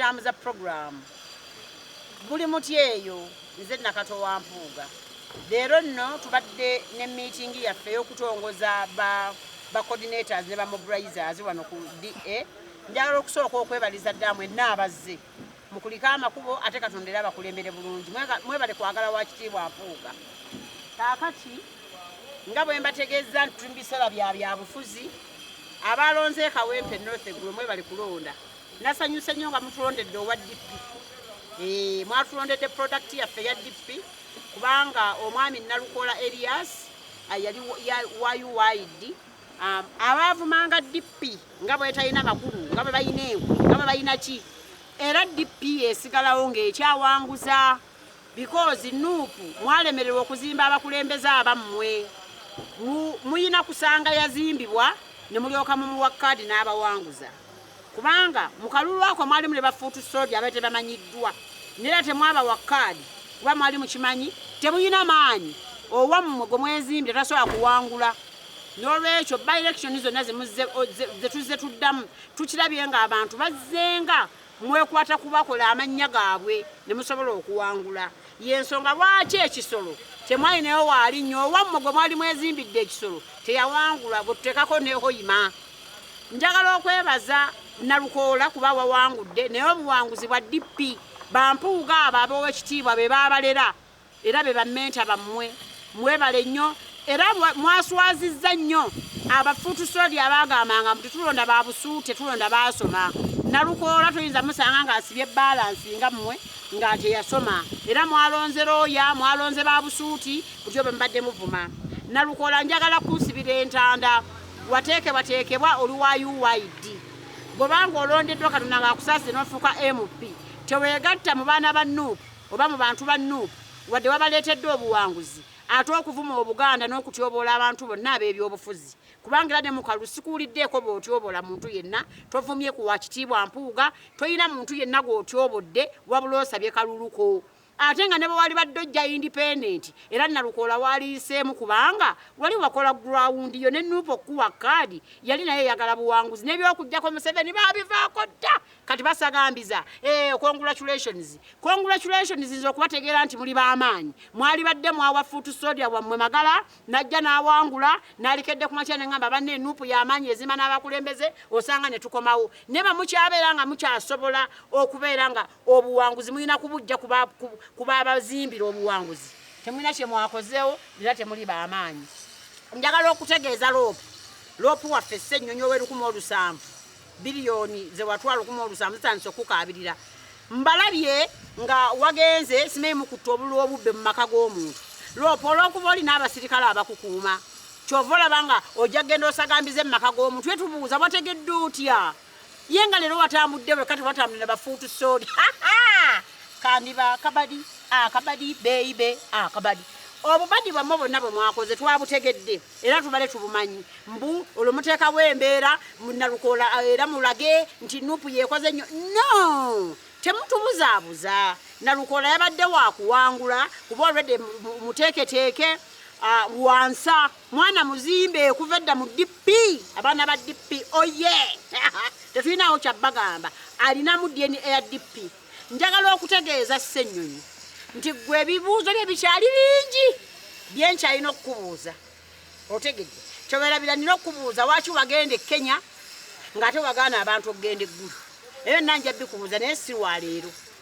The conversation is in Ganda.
Tambuza program guli muti eyo nze nakato wa mpuuga leero nno tubadde ne meeting yaffe ey'okutongoza ba ba coordinators ne ba mobilizers wano ku DA njagala okusooka okwebaliza dda mwenna abazze mukulike amakubo ate katonda era abakulembere bulungi mwebale kwagala wa kitiibwa mpuuga kaakati nga bwe mbategeeza nti tuli mu biseera bya byabufuzi abalonze e kawempe north eggulo mwebale kulonda Nasanyuse nnyo nga mutulondedde owa DP. Eh, mwatulondedde product yaffe ya DP kubanga omwami Nalukola Elias ah, yali wa UYD um, abaavumanga DP nga bwetalina makulu nga bwe balina enku nga bwe balina ki era DP esigalawo ng'ekyawanguza bikoozi nuupu mwalemererwa okuzimba abakulembeze abammwe muyina kusanga yazimbibwa ne mulyoka mumuwa kaadi n'abawanguza kubanga mu kalulu ako mwalimu ne bafuutu soodi abaali tebamanyiddwa neera temwabawa kaadi kuba mwali mukimanyi temuyina maanyi owammwe gwe mwezimbire tasobola kuwangula n'olwekyo ba elekitioni zonna zetuzze tuddamu tukirabye ng'abantu bazzenga mwekwata kubakola amannya gaabwe ne musobola okuwangula y'ensonga lwaki ekisolo temwalinayo waali nnyo owammwe gwe mwali mwezimbidde ekisolo teyawangula gwe tuteekako nehoyima Njagala okwebaza Nalukoola kuba wawangudde naye obuwanguzi bwa DP bampuuga abo aboowa ekitiibwa be baabalera era be bammenta bammwe mwebale nnyo era mwaswazizza nnyo abafuutusoodi abaagambanga mbu tetulonda ba busuute tulonda baasoma Nalukoola tuyinza musanga ng'asibye baalansi nga mmwe nga teyasoma era mwalonze looya mwalonze ba busuuti butyo bwe mubadde muvuma Nalukoola njagala kunsibira entanda wateekebwateekebwa oli wa uid bw'oba ng'olondeddwa katonda ng'akusaasire n'ofuuka mp teweegatta mu baana ba nup oba mu bantu ba nup wadde wabaleetedde obuwanguzi ate okuvuma obuganda n'okutyoboola abantu bonna ab'ebyobufuzi kubanga era ne mukalulu sikuwuliddeeko bw'otyoboola muntu yenna tovumye ku wa kitiibwa mpuuga tolina muntu yenna gw'otyobodde wabula osabye kaluluko ate nga ne bwe wali badde ojja independent era nalukoola waaliyiseemu kubanga wali wakola gurawundi yo ne nuupu okukuwa kaadi yali naye eyagala buwanguzi n'ebyokujjako museveni baabivaako dda kati basagambiza eh, congratulations congratulations nze okubategeera nti muli b'amaanyi mwali badde mwawa fuutu sodia wammwe magala najja n'awangula nalikedde ku makya ne ŋamba banna enuupu y'amaanyi ezima n'abakulembeze osanga ne tukomawo ne bamukyabeera nga mukyasobola okubeera nga Obuwanguzi mulina kubujja ku baabazimbira obuwanguzi. Temulina kye mwakozeewo era temuli ba maanyi. Njagala okutegeeza loopu loopu waffe Ssennyonyi ow'erukumi olusanvu biriyoni ze watwala lukumi olusanvu zitandise okukukaabirira. Mbalabye nga wagenze simanyi mukutta obululu obubbe mu maka g'omuntu. Loopu olw'okuba olina abasirikale abakukuuma kyova olaba nga ojja kugenda osagambize mu maka g'omuntu. Twetubuuza wategedde otya? ye nga leero watambudde weka tewatambudde na bafuutu soodi kandiba akabadi akabadi beibe akabadi obubadi bwamwe bonna bwe mwakoze twabutegedde era tubale tubumanyi mbu olwo muteekawo embeera nalukola era mulage nti nupu yekoze nnyo no temutubuzaabuza nalukola yabadde wakuwangula kuba olwedde muteeketeeke uh, wansa Mwana muzimbe okuva edda mu DP abaana ba DP oye tetulinawo kyabbagamba alinamu DNA ya DP. Njagala okutegeeza Ssenyonyi nti gwe ebibuuzo bye bikyali bingi bye nkyalina okukubuuza otegedde kyoberabira nina okukubuuza waki wagenda e Kenya ng'ate wagaana abantu okugenda eggulu ebyo nna nja bikubuuza naye si wa leero